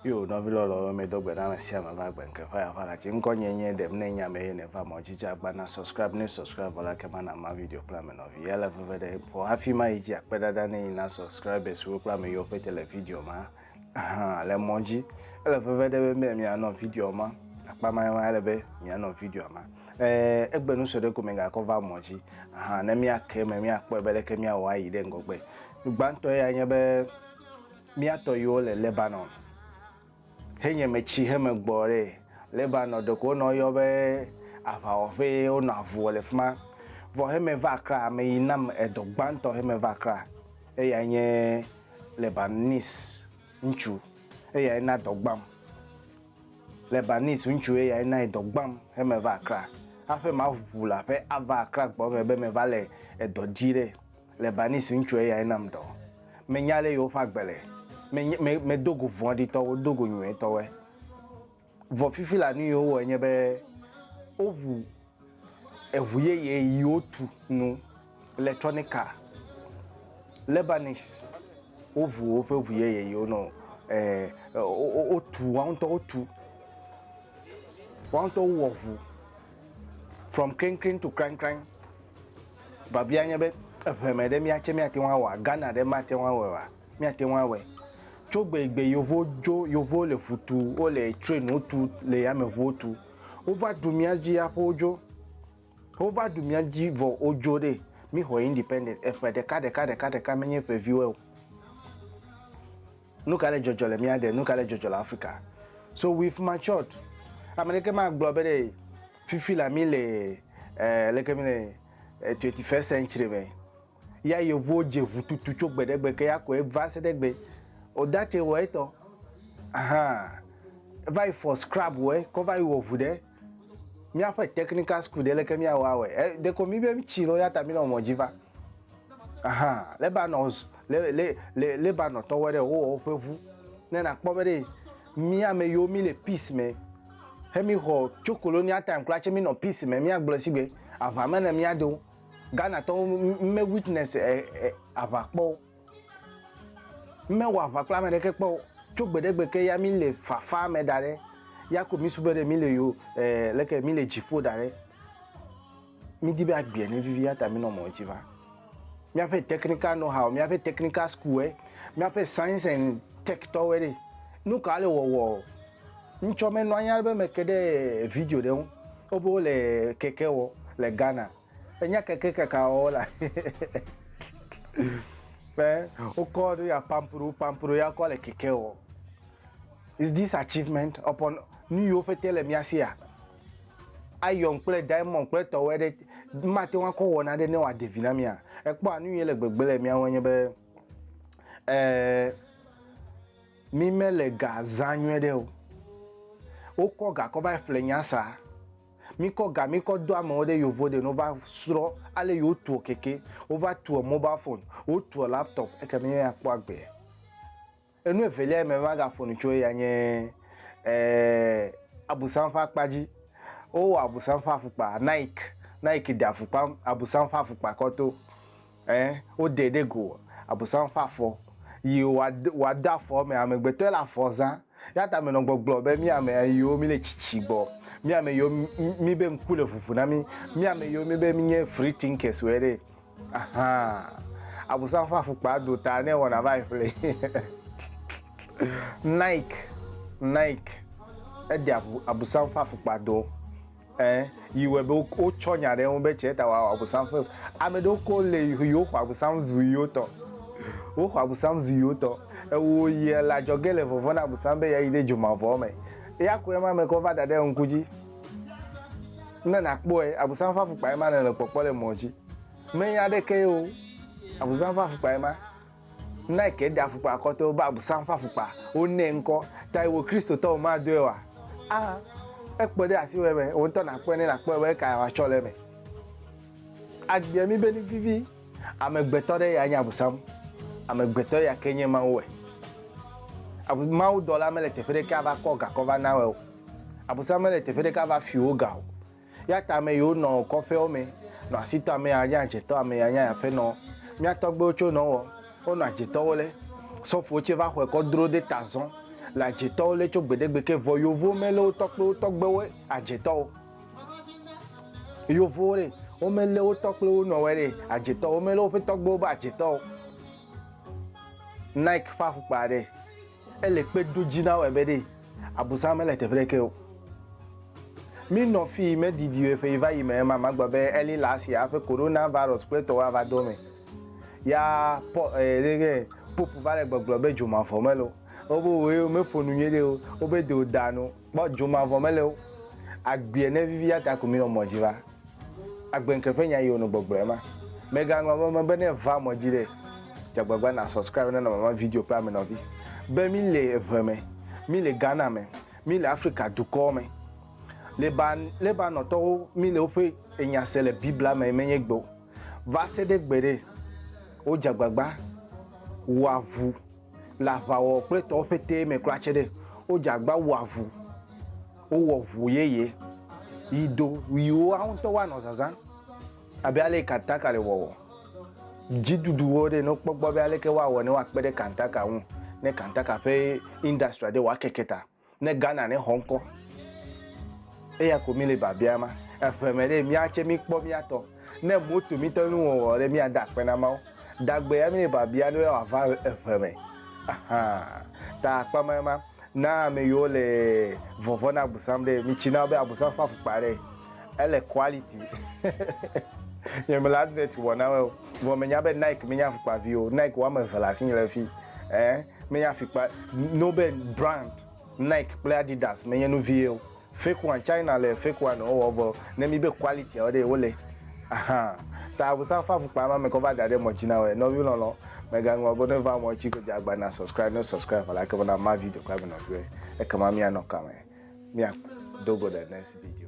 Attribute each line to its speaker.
Speaker 1: yo nɔvi lɔlɔwo mi do gbe na ame sia ame va gbe nke faya fara tsi ŋkɔ nye nye ɖem ne nya me ye ne va mɔ dzidzi agba na subscribe ne subscribe vɔ la ke ma na ma video kple ame nɔvi ya le veve ɖe fɔ hafi ma yi dzi akpe ɖaɖa ne yi na subscribers wo kple ame yiwo pete le video ma hã le mɔ dzi. Ele veve ɖe be mianɔ video ma akpa ma ma ele be mianɔ video ma. Eh, egbe nu sue ɖe ko migakɔ va mɔ dzi hã ne miake me miakpɔe be leke miawɔ ayi ɖe ŋgɔgbe. Gbãtɔ ya nye be miatɔ yiwo le Lebanon henye metsi heme gbɔ ɖe Lebanon ɖeko wonɔ yɔ be aʋawɔƒe wonɔ avu wɔ le fi ma. Vɔ heme va Accra ame yi nam edɔ gbãtɔ heme va Accra eya nye Lebanis ŋutsu, eyae na dɔ gbãm. Lebanis ŋutsu, eyae nae dɔ gbãm hemeva Accra. Hafi maʋu le aƒe ava Accra gbɔ eme be meva le edɔ dzi ɖe, Lebanis ŋutsu, eyae nam dɔ. Menya ale yewoƒe agbe le. Menye, me, medo go vɔ̃ɖitɔwo, do go nyuietɔwoe. Vɔ fifi la nu yi wowɔe nye be woʋu eʋu yeye yi wotu nu le Trɔnika Lebanese woʋu woƒe ʋu yeye yi wonɔ wotu woawo ŋutɔ wotu woawo ŋutɔ wowɔ ʋu from kreŋkreŋ to kraŋkraŋ. Biabia nye be eŋeme ɖe mía tse mía teŋu awɔa? Ghana ɖe mate ŋu awɔe oa? míate ŋu awɔe. Tso gbe yi gbe yevuwo dzo, yevuwo le ŋu tu, wole trɛniwo tu, le yameŋuwo tu. Wova ɖu mía dzi aƒe wodzo. Wova ɖu mía dzi vɔ wodzo ɖe. Míexɔ independence eƒe ɖeka ɖeka ɖeka ɖeka menye ƒe viwɔe o. Nu ka le dzɔdzɔ le mía de? Nu ka le dzɔdzɔ le Afrika? So we've matured. Ame ɖeke magblɔ be ɖe fifi la mi le eh, leke mi le eh, 21st century me. Ya yevuwo dze ŋu tutu tso gbe ɖe gbe ke ya kɔe va se ɖe egbe. Odate wɔ etɔ. Ahaa. Eva yi fɔ scrab wɔ kɔ va yi wɔ ŋu ɖe míaƒe technical school ɖe leke míawɔ awɔe. E, ɖeko mi be tsi nɔ ya ta mi nɔ mɔ dzi va. Ahaa. Lebanon le le le Lebanon tɔwɔ ɖe wowɔ woƒe ŋu. Ne nakpɔ be ɖe mi ame yiwo mi le peace me he mi xɔ tso colonial time kura tse mi nɔ peace me míagblɔ sigbe aʋa me ne míado. Ghana tɔwo me witness eh, eh, aʋa kpɔ o. Mewɔ aʋa kple ame ɖeke kpɔ o. Tso gbeɖegbe ke ya mi le fafa me da ɖe. Ya ko mi sube ɖe mi le yo eh, leke mi le dziƒo da ɖe. Mi di be agbea ne vivi ya ta mi nɔ mɔ dzi va. Miaƒe technical know how, miaƒe technical school, eh, miaƒe science and tech tɔwo ɖe. Nu ka le wɔwɔ o? Ŋtsɔ me nɔanyi alebe me ke ɖe video ɖe ŋu. Wobe wole keke wɔ le Ghana. Enya keke kaka wɔwɔ la. Ƒe wokɔ nu ya pampro pampro ya kɔ le keke wɔ. Is this achievement upon nu yiwo ƒete le mía sia? Iron kple diamond kple tɔwɔ ɖe mate ŋu akɔ wɔ naɖe ne wòade vi na mía. Ekpɔa nu yi le gbegbe le mía ŋu enye be ɛɛ. Eh, Mi me le ga zã nyuie ɖe o. Wo kɔ ga kɔ va yi ƒle nya sa. Mi kɔ ga mi kɔ do amewo ɖe yovo ɖe no va srɔ ale yo tuɔ keke, wo va tuɔ mobal fone, wo tuɔ laptop eke mi me akpɔ agbe. Enu evelia yi me va ga ƒonu tso eya nye eh abusam ƒe akpa dzi. Wo wɔ abusam ƒe afukpa, Nike, Nike ɖe afukpa abusam ƒe afukpa kɔ to. Ẽ, wodee ɖe go Abosam ƒe afɔ, yi wòade, wòade afɔ eme. Amegbetɔe le afɔ zã. Eya ta menɔ gbɔgblɔ be, Mí ame yiwo míle tsitsi gbɔ, mí ame yiwo míbe ŋku le ʋuʋu na mí, mí ame yiwo míbe mínye free thinkers woe ɖe! Ahaa! Abosam ƒe afukpaa do ta ne ewɔna va yi ƒle. Nike, Nike, edea ŋu Abosam ƒe afukpa do. Ẽ, yi wɔe be wo wotsɔ nya ɖe eŋu be tsɛ ta wòawɔ Abosam ƒe ʋu. Ame ɖewo koŋ le yi yi woxɔ Abosam zu yi wotɔ. Woxɔ Abosam zu yi wotɔ. Ewɔ yi ele adzɔge le vɔvɔ̃ na Abosam be yeayi ɖe dzomavɔa me. Eya koe ma mekɔ va da ɖe ŋku dzi. Ne nàkpɔe, Abosam ƒe afukpae ma nèle kpɔkpɔ le mɔ dzi. Menya aɖekee o. Abosam ƒe afukpae ma. Nike ɖe afukpa akɔtɔwo be Abosam ƒe afukpa, wonɛ ŋkɔ tae wò Kristotɔwo madoe oa? A Ekpe ɖe asiwɔe me wò ŋutɔ nàkpɔe ne nàkpɔe be ekae wòatsɔ le eme. Agbea mí be nu vivi, amegbetɔ ɖe yae nye Abosam, amegbetɔ ya ke nye Mawu wɔe. Mawudɔla mele teƒe ɖeke ava kɔ gakɔ va nae o. Abosam mele teƒe ɖeke ava fi wò ga o. Eya ta ame yiwo nɔ kɔƒeawo me nɔ asi tɔ amee anye adzetɔ, amee anye aƒenɔ. Mía tɔgbuiwo tso nɔ wɔ, wonɔ adzetɔwo le. Sɔfowo tsɛ va xɔe kɔ dro de ta zɔn le adzetɔwo le tso gbeɖegbe ke. Vɔ Yovowo melé wo tɔkpewo tɔgbewo adzetɔwo. Yovowo ɖe, womelé wo tɔkpewo nɔwɔe ɖe adzetɔwo, womelé woƒe tɔgbewo be adzetɔwo. Nike ƒe afɔkpa ɖe. Ele kpe do dzi na wo abe ɖee Abosam mele teƒe ɖeke o. Mí nɔ fii me didi o eƒe yi va yi me ema magblɔ be early last year aƒe Corona virus kple etɔwo ava do eme. Ya Paul e ɖege Pope va le gbɔgblɔ be dzomavɔ mele o. Wobe woe me ƒo nu nyuie ɖe o. Wobe de o da nu. Kpɔ dzomavɔ mele o. Agbeɛ ne vivi ya ta ko mi nɔ mɔ dzi va. Agbe ŋke ƒe nya yi wo nɔ gbɔgblɔ ye ma. Me ga ŋlɔ ame me be ne va mɔ dzi ɖe dze agbagba na subscribe na nɔnɔme video kple ame nɔvi be mi le eve me, mi le Ghana me, mi le Afrika dukɔ me. Leban, Lebanon tɔwo mi le woƒe enya se le biblia me me nye gbe o. Va se ɖe gbe ɖe wo dze agbagba wɔ avu. le aʋawɔwɔ kple tɔwo ƒetee me kura tse ɖe, wodze agba wɔ avu, wowɔ ʋu yeye yi do yi woa ŋutɔwo anɔ zazã abe ale yi kantaka le wɔwɔ. Dzidudu wo ɖe ne wokpɔ gbɔ be aleke woawɔ ne woakpe ɖe kantaka ŋu ne kantaka ƒe industry ɖe woakeke ta. ne Ghana ne xɔ ŋkɔ. Eya ko mi le biabia ma. Eƒe me ɖe miatse mi kpɔ miatɔ. Ne moto mi tɔ nu wɔwɔ ɖe mia da akpe na Mawu. Dagbe ya mi le biabia ne wa va eƒe me. Ahaa. Ta akpa ma ma na ame yiwo le vɔvɔ na abusam ɖe mi tsi na be abusam ƒe afukpa ɖe ele quality. Nye me le advert wɔna me o. Vɔ me nya be Nike me nya afukpa vi o. Nike wɔme eve le asi le fi. Eh. Menye afikpa no be brand Nike kple Adidas menye nu vie o. Fake one, China le fake one wo wɔ vɔ ne mi be quality a wo ɖe wo le. Ahan. Ta avusa fa fukpa ma me kɔ va da ɖe mɔ dzi na wɔe. Nɔvi lɔlɔ, me ga ŋlɔ be ne va mɔ dzi go dze agba na subscribe ne subscribe vɔ la ke be na ma video kple nɔ vie. Eke ma mi anɔ kame. Mi a do go the next video.